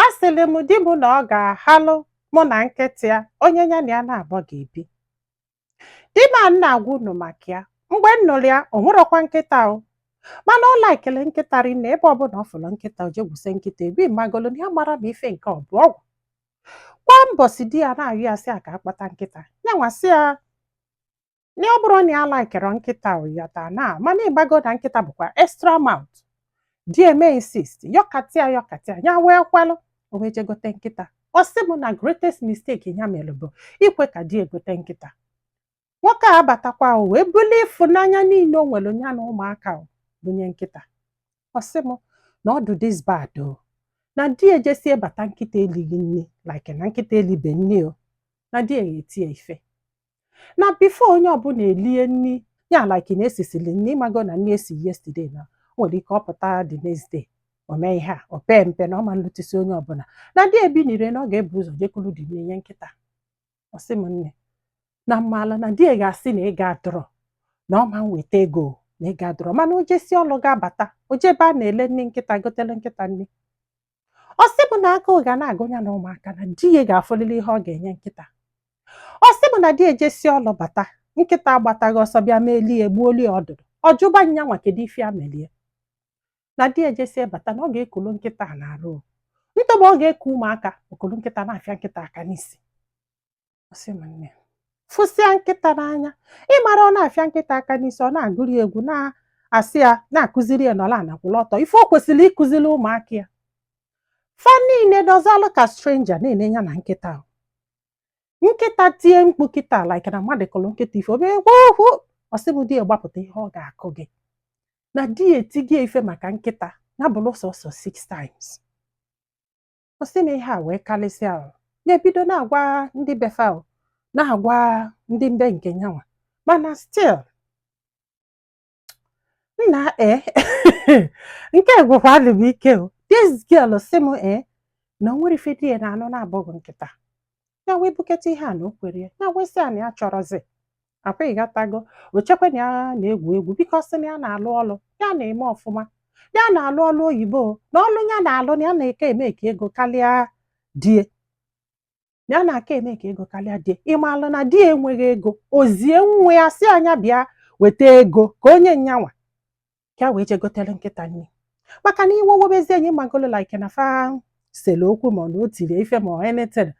Asịrị m di m na ọ ga-ahalụ mụ na nkịta ya onye ya na ya naabọ ga-ebi. Di m a na-agwa unu maka ya. Mgbe m nụrụ ya, o nwerọkwa nkịta o. Mana ọ laikiri nkịta rinne ebe ọbụla ọ fụrụ nkịta o je gwuse nkịta egwu ịmagolu na ya amarọ ma ife nke ọ bụ ọgwụ. Kwa mbọsị di ya na-ayọ ya sị ya ka a kpọta nkịta. Yanwa sị ya na ọ bụrọ na ya laikirọ nkịta ịghọta na mana ịmago na nkịta bụkwa extra mouth di eme insist yọkatịa yọkatịa ya wee kwelụ o wee jegote nkịta ọ sị m na greatest mistake ya mere bụ ikwe ka di egote nkịta nwoke a abatakwa o wee bulie ịfụnanya niile o nwere ya na ụmụaka o bunye nkịta ọ sị m na ọ dị this bad o na di ejesie bata nkịta elighị nni like na nkịta elibe nni o na di ya etie ife na before onye ọbụla elie nri ya like na esisili nri ịmago na nri esi yesterday na o nwere ike ọ pụta the next day o mee ihe a o pee mpe na ọ ma nlutesi onye ọbụla na di ebinie na ọ ga-ebu ụzọ je kulu the nni nye nkịta ọ sị m nne na mmaala na di ga-asị na ego adịrọ na ọ ma nweta ego na ego adịrọ mana o jesi ọlụ ga-abata o je ebe a na-ele nni nkịta gotele nkịta nni ọ sị mụ na agụụ ga na-agụ ya na ụmụaka na di ya ga-afụlili ihe ọ ga-enye nkịta ọ sị mụ na di ejesi ọlụ bata nkịta agbataghị ọsọ bịa malie egbuolie ọdụdụ ọ jụba nyanwa kedu ife ya melie na di ejesi bata na ọ ga-ekulu nkịta a n'arụ ntọba ọ ga-eku ụmụaka o kulu nkịta na-afịa nkịta aka n'isi ọ sị m nne fụsịa nkịta n'anya ịmara ọ na-afịa nkịta aka n'isi ọ na-agụri egwu na-asị ya na-akụziri ya nọlụ ana kwụlụ ọtọ ife o kwesịrị ịkụziri ụmụaka ya fa niile nọzalụ ka stranger na-ene ya na nkịta ahụ nkịta tie mkpu kịta like na mmadụ kụrụ nkịta ife obere gwogwo ọ sị m di ya gbapụta ihe ọ ga-akụ gị na di ya etigo ya ife maka nkịta ya bụrụ sọsọ six times ọ sị m ihe a wee karịsịa ahụ ya ebido na-agwa ndị be fa o na-agwa ndị be nke nyanwa mana still nna e nke gwụkwadị m ike o this girl sị m e na o nwerọ ife di ya na-anụ na-abụghị nkịta ya wee buketa ihe a na o kwere ya ya wee sị a na ya chọrọzi akwa ịghọtago o chekwa na ya na-egwu egwu biko sị na ya na-alụ ọlụ ya na-eme ọfụma ya na-alụ ọlụ oyibo na ọlụ ya na-alụ na ya na-aka e-make ego karịa die na ya na-aka e-make ego karịa die ịmalụ na di enweghị ego o zie nwa ya sị a nya bịa weta ego ka o nye nyanwa ka a wee je gotere nkịta nri maka na iwe wobezie ya ị magolo like na fa sele okwu ma ọ na o tiri ya ife ma ọ anything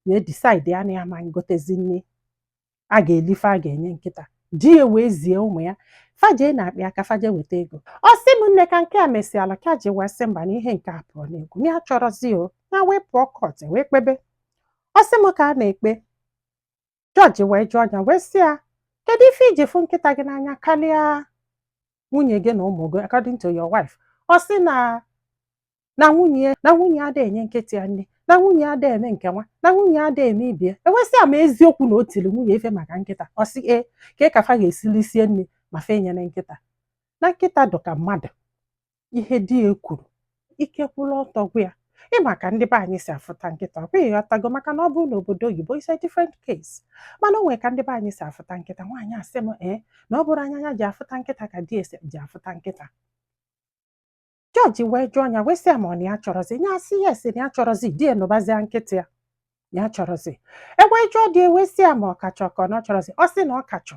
na edisaidi ya na ya ma ngotezi nri a ga-eli ife a ga-enye nkịta di ya wee zie ụmụ ya fa je n'akpa ya ka fa je weta ego ọ sị m nne ka nke a mesịala ka ya ji wee sị mba na ihe nke a apụọ n'egwu ya achọrọzi o ya wee pụọ kọt wee kpebe ọ sị m ka a na-ekpe Jọji wee jụọ ya wee sị ya kedu ife i ji fụ nkịta gị n'anya karịa nwunye gị na ụmụ gị according to your wife ọ sị na na nwunye na nwunye ya ada enye nkịta ya nri na nwunye ya ada eme nke nwa na nwunye ya ada eme ibe ya e wee sị ya ma eziokwu na o tiri nwunye ya ife maka nkịta ọ sị ee kee ka fa ga-esi lisie nri ma fa enyene nkịta na nkịta dụ ka mmadụ ihe di ya kwuru ike kwụrụ ọtọ gwa ya ị ma ka ndị be anyị si afụta nkịta ọ bụghị ị ghọtago maka na ọ bụrụ na obodo oyibo is a different case mana o nwere ka ndị be anyị si afụta nkịta nwaanyị a sị m ee na ọ bụrọ anya ya ji afụta nkịta ka di ya si eji afụta nkịta jọji wee jụọ ya wee sị ya ma ọ na ya achọrọzi ya asị yes na ya achọrọzi di ya nụbazia nkịta ya ya achọrọzi e wee jụọ di ya wee sị ya ma ọ ka chọ ka ọ na ọ chọrọzi ọ sị na ọ ka chọ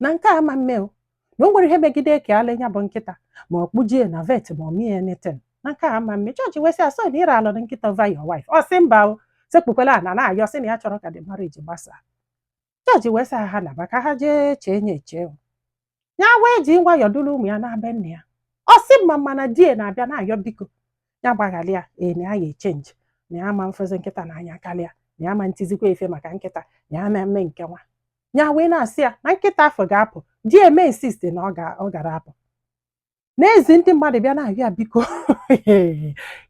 na nke a ma mme o na o nwere ihe megide ka e lee ya bụ nkịta ma ọ kpụje ya na vet ma ọ mee ya anything na nke a ma mme jọji wee sị ya so na ịra alụ na nkịta over your wife ọ sị mba o sekpukwa ala na-ayọ sị na ya achọrọ ka the marriage gbasaa jọji wee sị ha naba ka ha jee chee ya eche o ya wee ji nwayọọ duru ụmụ ya naa be nne ya ọ sị m ma mana di ya na-abịa na-ayọ biko ya gbaghalị ya ee na ya ga-echenji na ya ma mfụzi nkịta n'anya karịa na ya ma ntizikwa ya ife maka nkịta na ya ma mme nke nwa ya wee na-asị ya na nkịta afụ ga-apụ di ya emee insist na ọ gara apụ na-ezi ndị mmadụ bịa na-arịọ ya biko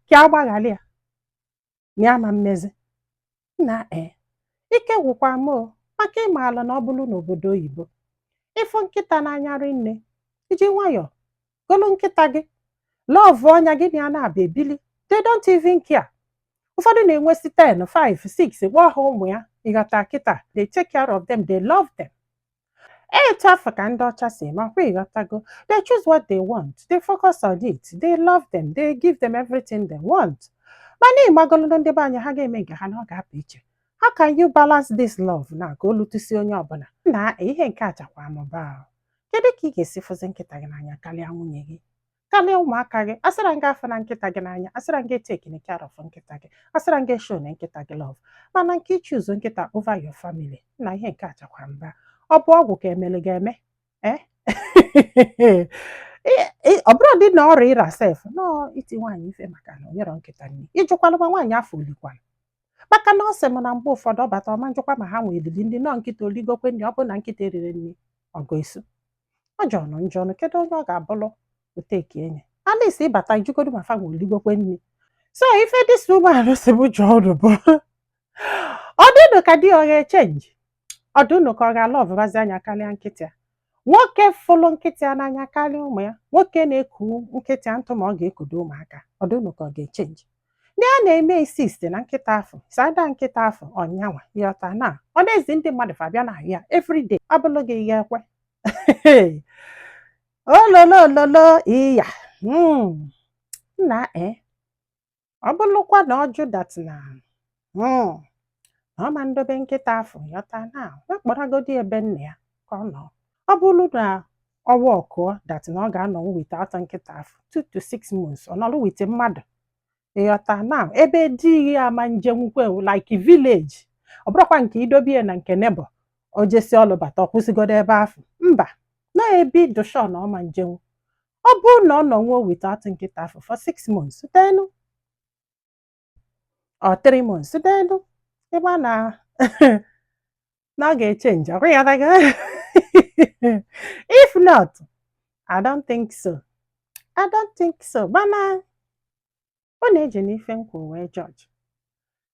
ka ọ gbaghalị ya na ya ma mmezi na e ike gwụkwa m maka ị maala na ọ bụrụ n'obodo oyibo ị fụ nkịta n'anya rinne i ji nwayọọ golu nkịta gị lọvụọ ya gị na ya na-ebi ebili they don't even care ụfọdụ na-enwesi 10 5 6 kpọọ ha ụmụ ya ị ghọta kịta they take care of them they love them etu afụ ka ndị ọcha si eme ọ kwa ị ghọtago they choose what they want they focus on it they love them they give them everything they want mana ị magolo na ndị be anyị ha ga-eme nke ha na ọ ga-apụ iche how can you balance this love na ka o lutusie onye ọbụla na ihe nke achakwa mba o kedu ka ị ga-esi fụzi nkịta gị n'anya karịa nwunye gị karịa ụmụaka gị asịra m gị afụna nkịta gị n'anya asịra m gị etekina care of nkịta gị asịra m gị eshowna nkịta gị love mana nke ichuzu nkịta over your family na ihe nke achakwa mba ọ bụ ọgwụ ka e melu gị eme eh? ọ bụrụ dị na ọrịa ịra sef nọọ i ti nwaanyị ife maka na o nyerọ nkịta nri ị jụkwalụ ma nwaanyị afụ o likwala maka na ọ sị m na mgbe ụfọdụ ọ bata ọ ma njụkwa ma ha nwa elili nri nọ nkịta o ligokwe nri ọ bụ na nkịta eriri nri ọgụ isu ọ jọnụ njọ ọnụ kedu onye ọ ga-abụrụ o take enyi at least ị bata ị jụgodu ma fa nwa o ligokwe nri so ife this woman sị m jụọ unu bụ ọ dị unu ka di ọ ga-echenji ọ dị unu ka ọ ga-alọvụbazi anya karịa nkịta ya nwoke fụlụ nkịta ya n'anya karịa ụmụ ya nwoke na-eku nkịta ya ntụ ma ọ ga-ekudo ụmụaka ọ dị unu ka ọ ga-echenji di ya na-eme insist na nkịta afụ sada nkịta afụ ọ nyanwa ị ghọta na ọ na-ezi ndị mmadụ fa bịa na ya everyday abụlụ gị ị ya-ekwe ololololo iya mm. nna e Ọ bụrụkwa na ọ jụ that na hmm, na ọ ma ndobe nkịta afụ ị ghọta na ya kpọrọgodi ebe nna ya ka ọ nọ ọ bụrụ na ọ kwuo that na ọ ga-anọnwu without nkịta afụ 2 to 6 months ọ nọrọ with mmadụ ị ghọta n'ebe di ya ama njenwukwe like village ọ bụrụkwa nke i dobe ya na nke neighbor o jesi ọlụ bata ọ kwụsịgodo ebe afụ mba n'ebe ị dị sure na ọ ma njenwu ọ bụrụ na ọ nọnwuo without nkịta afụ for six months then or three months then ị ga-ama na ọ ga-echenji ọkwa ya daga if not I don't think so I don't think so mana unu ejina ife m kwuo wee judge